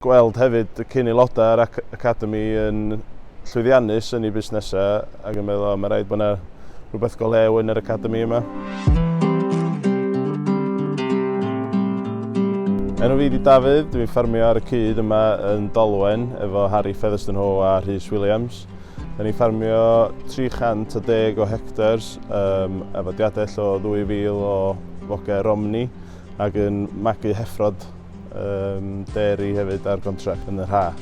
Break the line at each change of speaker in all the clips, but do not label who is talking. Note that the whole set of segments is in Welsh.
Gweld hefyd y cyn-aelodau o'r Academi yn llwyddiannus yn eu busnesau ac yn meddwl 'O, mae'n rhaid bod yna rhywbeth go lew yn yr Academi yma'. Enw fi ydi Dafydd, dwi'n ffermio ar y cyd yma yn Dolwen efo Harry Featherstone-Howe a Rhys Williams. Da ni'n ffermio 310 o hectars um, efo diadell o 2,000 o foge Romney ac yn magu heffrod Yym, deri hefyd ar gontract yn yr haf.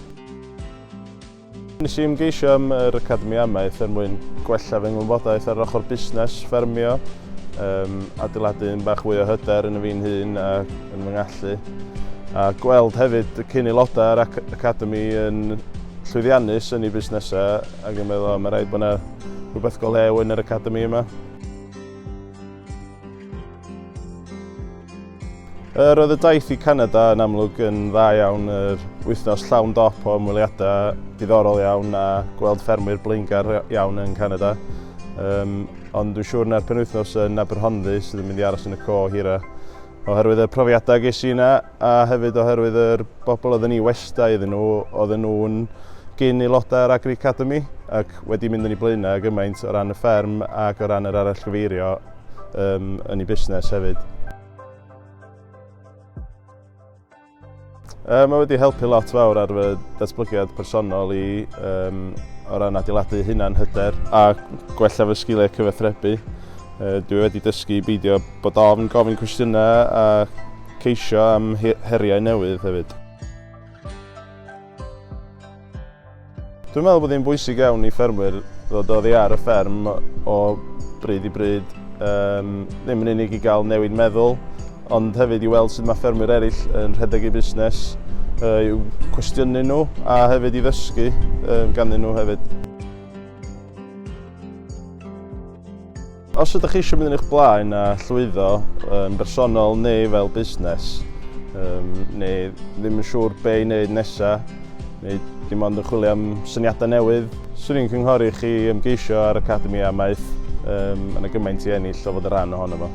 Nes i ymgeisio am yr Academi Amaeth er mwyn gwella fy ngwybodaeth ar yr ochr busnes, ffermio, um, adeiladu un bach fwy o hyder yn y fi'n hun a yn fy ngallu. A gweld hefyd y cyn aelodau ar ac Academi yn llwyddiannus yn ei busnesau ac yn meddwl, o, mae rhaid bod yna rhywbeth go lew yn yr Academi yma. Yr oedd y daith i Canada yn amlwg yn dda iawn, yr wythnos llawn dop o ymweliadau diddorol iawn a gweld ffermwyr blaengar iawn yn Canada. Um, ond dwi'n siŵr na'r penwythnos yn Aberhonddu sydd yn mynd i aros yn y co hira. Oherwydd y profiadau ges i yna, a hefyd oherwydd yr bobl oedden ni westai iddyn nhw, oedden nhw'n gyn aelodau o'r Agri Academy ac wedi mynd yn ei blaenau gymaint o ran y fferm ac o ran yr arallgyfeirio um, yn ei busnes hefyd. Um, mae wedi helpu lot fawr ar fy datblygiad personol i um, o ran adeiladu hunan hyder a gwella fy sgiliau cyfathrebu. Uh, dwi wedi dysgu beidio bod ofn gofyn cwestiynau a Ceisio am heriau newydd hefyd. Dwi'n meddwl bod hi'n bwysig iawn i ffermwyr ddod oddi ar y fferm o bryd i bryd, um, ddim yn unig i gael newid meddwl, ond hefyd i weld sut mae ffermwyr eraill yn rhedeg eu busnes, uh, i'w cwestiynu nhw a hefyd i ddysgu um, ganddyn nhw hefyd. Os ydych chi eisiau mynd yn eich blaen a llwyddo yn bersonol neu fel busnes, um, neu ddim yn siŵr be i wneud nesaf, neu dim ond yn chwilio am syniadau newydd, swn i'n cynghori chi ymgeisio ar Academi Amaeth, um, yn y gymaint i ennill o fod y rhan ohono fo.